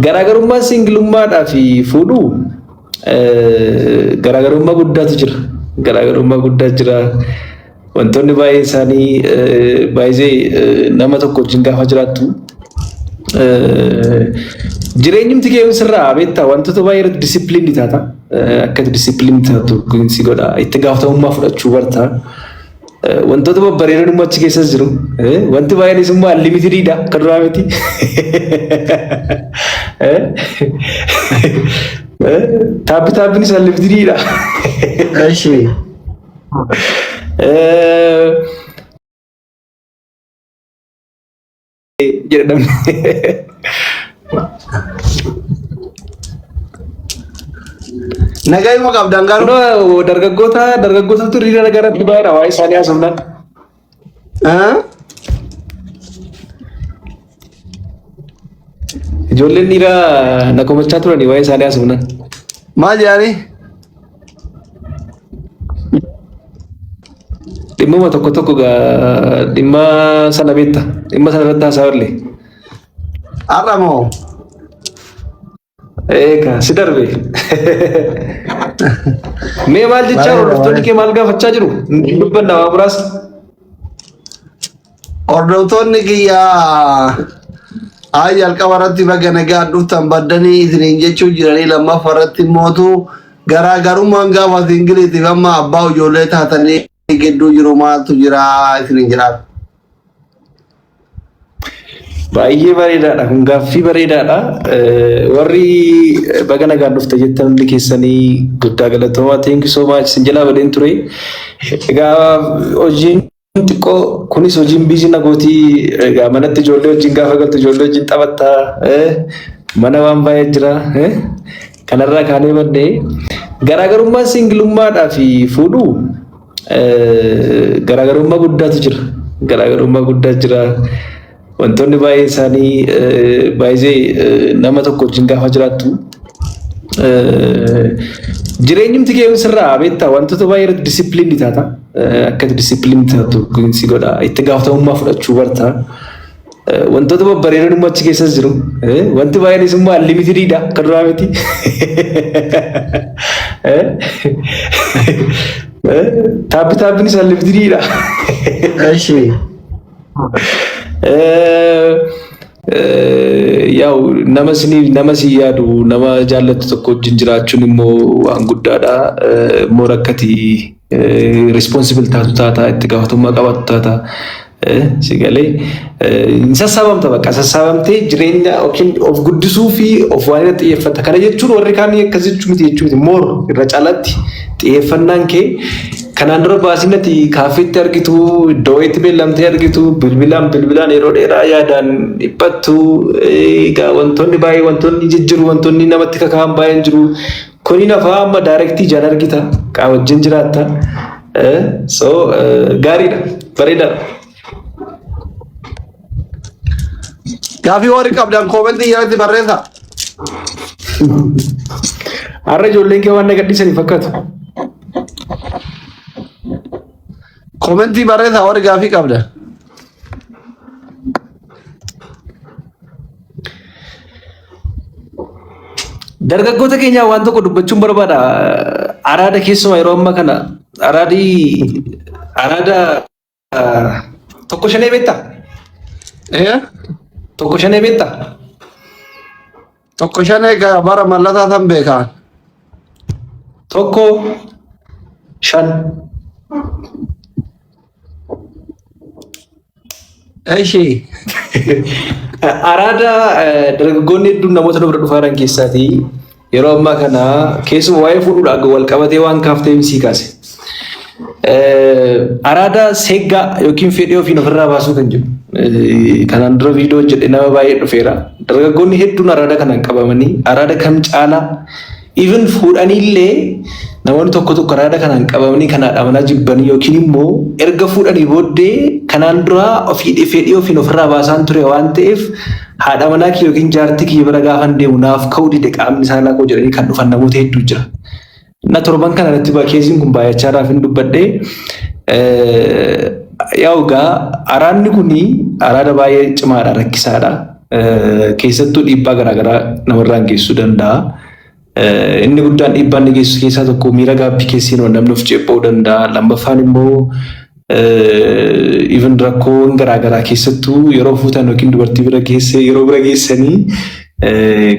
Garaagarummaan singilummaadhaa fi fuudhuu garaagarummaa guddaatu jira. Garaagarummaa guddaa jira. Wantoonni baay'ee isaanii baay'ee nama tokko wajjin gaafa jiraattu jireenyumti kee sirraa beektaa wantoota baay'ee irratti disipiliinii taata. Akka disipiliinii taatu si godha. Itti gaafatamummaa fudhachuu barta. Wantoota babbareedan immoo achi keessas jiru. Wanti baay'eenis immoo anlimitididha kan duraa miti. Taappi taappinis anlimitididha. Eshi. jedhan. Nagaa immoo qabdaan garuu. Dargaggoota dargaggootatu hiriira nagaa irratti baay'eedha waa'ee isaanii haasofnaan. Ijoolleen dhiiraa na komachaa turanii waa'ee isaanii haasofnaan. Maal jedhanii? Dhimmuma tokko tokko gaa- dhimma sana beekta. Dhimma sana irratti haasaa olle. Har'a moo Eegaa si darbe. Mee maal jechaa Baay'ee hordoftoonni baay'ee. kee maal gaafachaa jiru? Dubbanna waa muraasa. Hordoftoonni kiyya haa jalqaba irratti baga nagaan dhuftan baddanii isiniin jechuu jiranii lammaffaa irratti mootu garaagarummaan gaafa singiliitiif amma abbaa ijoollee taatanii gidduu jiru maaltu jira isiniin jiraatu. Baay'ee bareedaadha. Kun gaaffii bareedaadha. Warri baga nagaan dhufte jettan hundi keessanii guddaa galatoomaa. Thank you so much. Sin jalaa badeen ture. Egaa hojiin xiqqoo kunis hojiin biizii na gootii egaa manatti ijoollee wajjin gaafa galtu ijoollee wajjin taphatta eh, mana waan baay'ee jira eh, kanarraa kaanee maddee garaagarummaan singilummaadhaa fi fuudhuu eh, garaagarummaa guddaatu jira garaagarummaa guddaa jira Wantoonni baay'ee isaanii baay'ee nama tokko wajjin gaafa jiraattu jireenyumti kee sirraa beektaa wantoota baay'ee irratti disipiliinii taata. Akka disipiliinii taatu si godha. Itti gaafatamummaa fudhachuu barta. Wantoota babbareedoon immoo achi keessas jiru. Wanti baay'een isummaa limitididha kan duraa miti. Taabbi taabbiin isaa limitididha. Eshi. Yaa'u nama isiniif nama isin yaadu nama jaallattu tokko wajjin jiraachuun immoo waan guddaadha. Immoo rakkati responsible taatu taata itti gaafatamummaa qabaatu taata. Si galee hin sassaabamta bakka sassaabamtee jireenya yookiin of guddisuu fi of waan irratti xiyyeeffata. Kana jechuun warri kaan akkas jechuu miti jechuu miti. Moor irra caalatti xiyyeeffannaan kee Kanaan dura baasiin ati kaaffiitti argitu, iddoo wayiitti beellamtee argitu, bilbilaan bilbilaan yeroo dheeraa yaadaan dhiphattu, egaa wantoonni baay'ee wantoonni jijjiru, wantoonni namatti kaka'an baay'een jiru. Kuni nafaa amma daayirektii ijaan argita, qaa wajjin jiraatta. So gaariidha, bareedaadha. Gaafii warri qabdan koomentii jalatti barreessa. Har'a ijoolleen kee waan na gadhiisanii fakkaatu. Koomentii barreessa warri gaafii qabdan. Dargaggoota keenyaa waan tokko dubbachuun barbaada. Araada keessumaa yeroo ammaa kana araadii araada Tokko shanee beektaa? Ee? Tokko shanee beektaa? Tokko shan egaa bara mallataa san beekaa. Tokko shan. Eshi. Araada eh, dargaggoonni hedduun namoota dubara dhufaa jiran keessaatii Yeroo ammaa kana keessuma waa'ee fuudhuudhaan akka wal qabatee waan kaafteef sii kaase. Araada seeggaa yookiin fedhii ofiin ofirraa baasuu kan jedhu. Kanaan dura viidiyoo hojjedhe nama baay'ee dhufeera. Dargaggoonni hedduun araada kanaan qabamanii araada kam caalaa even fuudhaniillee namoonni tokko tokko araada kanaan qabamanii kanaan amanaa jibbanii yookiin immoo erga fuudhanii booddee kanaan dura ofii fedhii ofiin ofirraa baasaan ture waan ta'eef Haadha manaa kiyya yookiin jaartii kiyya bira gaafan deemu naaf ka'uu dide qaamni saalaa koo jedhanii kan dhufan namoota hedduu jira. Na torban kana irratti bakeesiin kun baay'achaa irraa fin dubbadhe. Yaa ogaa araadni kun araada baay'ee cimaadha rakkisaadha. Keessattuu dhiibbaa garaagaraa namarraan geessisuu danda'a. Inni guddaan dhiibbaa inni geessisu keessaa tokko miira gaabbii keessa seenuun namni of ceepha'uu danda'a. Lammaffaan immoo even rakkoowwan garaa garaa keessattuu yeroo fuutan yookiin dubartii bira geesse yeroo bira geessanii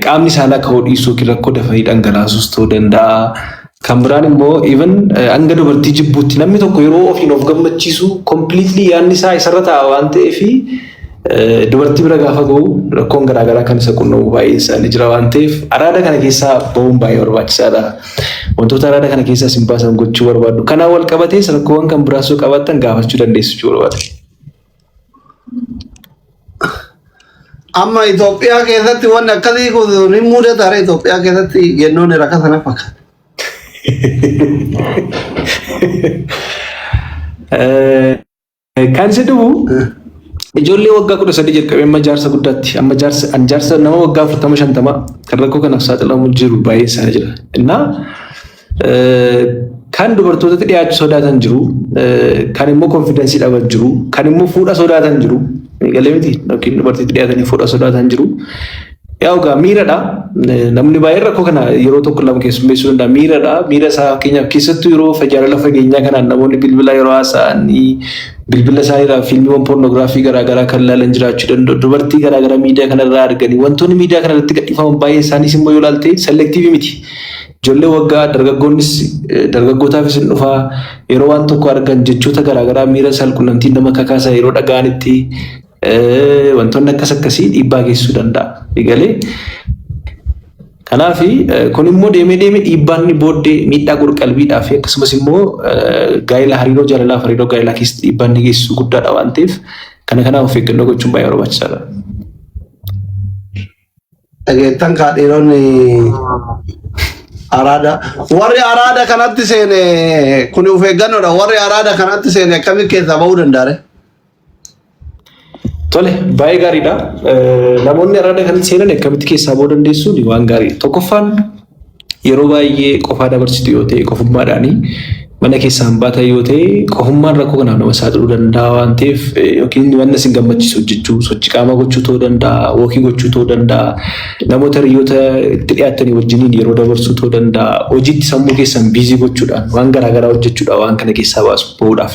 qaamni saalaa ka'uu dhiisuu yookiin rakkoo dafanii dhangalaasuus ta'uu danda'a. Kan biraan immoo even hanga dubartii jibbuutti namni tokko yeroo ofiin of gammachiisu completely yaadni isaa isarra ta'a waan ta'eef Dubartii bira gaafa ga'u rakkoon garaagaraa kan isa qunnamuu baay'een isaanii jira waan ta'eef araada kana keessaa ba'uun baay'ee barbaachisaadha. Wantoota araada kana keessaa isin baasan gochuu barbaaddu. Kanaan wal qabatees rakkoowwan kan biraas yoo qabaattan gaafachuu dandeessu jechuu barbaada. Amma Itoophiyaa keessatti wanni akkasii kun ni mudata ara Itoophiyaa keessatti yennoon rakka sana fakkaata. Eh, Kan si dhufu ijoollee waggaa kudha sadii jalqabee amma jaarsa guddaatti amma jaarsa an jaarsa nama waggaa afurtama shantama kan rakkoo kanaaf saaxilamu jiru baay'ee isaanii jira. Innaa kan dubartootatti dhiyaachuu sodaatan jiru kan immoo konfidensii dhaban jiru kan immoo fuudha sodaatan jiru galee miti yookiin dubartiitti dhiyaatanii fuudha sodaatan jiru. Yaa ogaa miiradha. Namni baay'een rakkoo kana yeroo tokko lama keessummeessuu danda'a. Miiradha. Miira isaa fakkeenyaaf keessattuu yeroo jaalala fageenyaa kanaan namoonni bilbila yeroo haasa'anii bilbila isaa irraa fiilmiiwwan poornoogiraafii garaagaraa kan ilaalan jiraachuu danda'u. Dubartii garaagaraa miidiyaa kanarraa arganii wantoonni miidiyaa kanarratti gadhiifaman baay'een isaaniis immoo yoo ilaalte selektiivii miti. Ijoollee waggaa dargaggoonnis dargaggootaafis hin dhufaa yeroo waan tokko argan jechoota garaagaraa miira saalqunnamtiin nama kakaasaa yeroo dhaga'anitti wantoonni akkas akkasii dhiibbaa geessisuu danda'a. Egalee kanaaf kun immoo deemee deemee dhiibbaan inni booddee miidhaa qorqalbiidhaa fi akkasumas immoo gaa'ela hariiroo jaalalaa fi hariiroo gaa'elaa keessatti dhiibbaa inni geessisu guddaadha waan ta'eef kana kanaaf of eeggannoo gochuun baay'ee barbaachisaadha. Dhageettan kaa dhiironni araada warri araada kanatti seene kun of eeggannoodha warri araada kanatti seene akkamitti keessaa ba'uu danda'a? Tole baay'ee gaariidha. Eh, Namoonni araada kanatti seenan akkamitti keessaa ba'uu dandeessuun waan gaariidha. Tokkoffaan Yeroo baay'ee qofaa dabarsitu yoo ta'e qofummaadhaani mana keessaan baatan yoo ta'e qofummaan rakkoo kanaaf nama saaxiluu danda'a waan ta'eef yookiin wanna isin gammachiisu hojjechuu sochii qaamaa gochuu ta'uu danda'a wookii gochuu ta'uu danda'a namoota hiriyoota itti dhiyaattanii wajjiniin yeroo dabarsuu ta'uu danda'a hojiitti sammuu keessan biizii gochuudhaan waan garaa garaa hojjechuudhaan waan kana keessaa baasu ba'uudhaaf